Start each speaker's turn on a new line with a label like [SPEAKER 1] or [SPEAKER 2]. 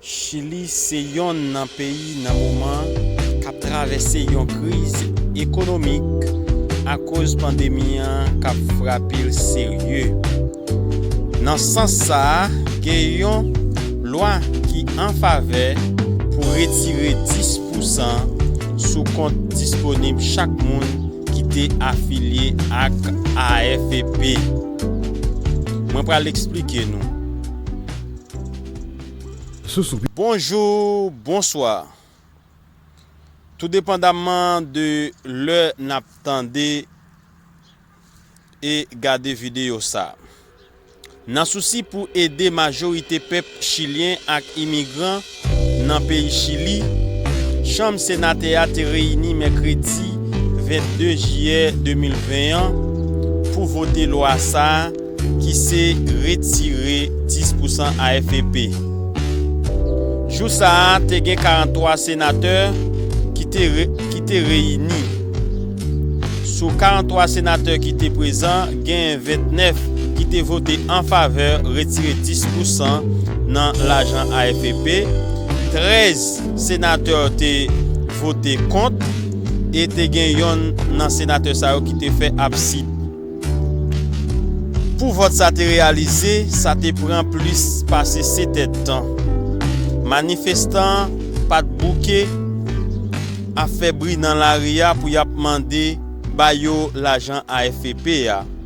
[SPEAKER 1] Chili se yonn nan peyi nan moman k ap travèse yon kriz ekonomik akoz pandemi an k ap frape l serye. Nan sans sa a, gen yon lwa ki an favè pou retire 10 pousan sou kont disponib chak moun ki te afilye ak AFP. Mwen pral eksplike nou. Bonjou, bonswa. Toudepandamman de lè n ap tande e gade videyo sa, nan sousi pou ede majorite pèp chilyen ak imigran, Nan peyi Chili, Chanm Senatè a te reyini mèkredi 22 jiyè 2020 an pou vote lwa sa a ki se retire 10 pousan AFP. Jou sa a te gen 43 senatè ki te reyini. Sou 43 senatè ki te prezan, genyen 29 ki te vote an favè retire 10 pousan nan lajan AFEP, 13 senatè te vote kont e te gen yonn nan senatè sa yo ki te fè absid. Pou vòt sa te reyalize, sa te pran plis pase 7 èd tan. Manifestan pa t bouke ap fè bri nan lari a pou y ap mande ba yo lajan AFP a.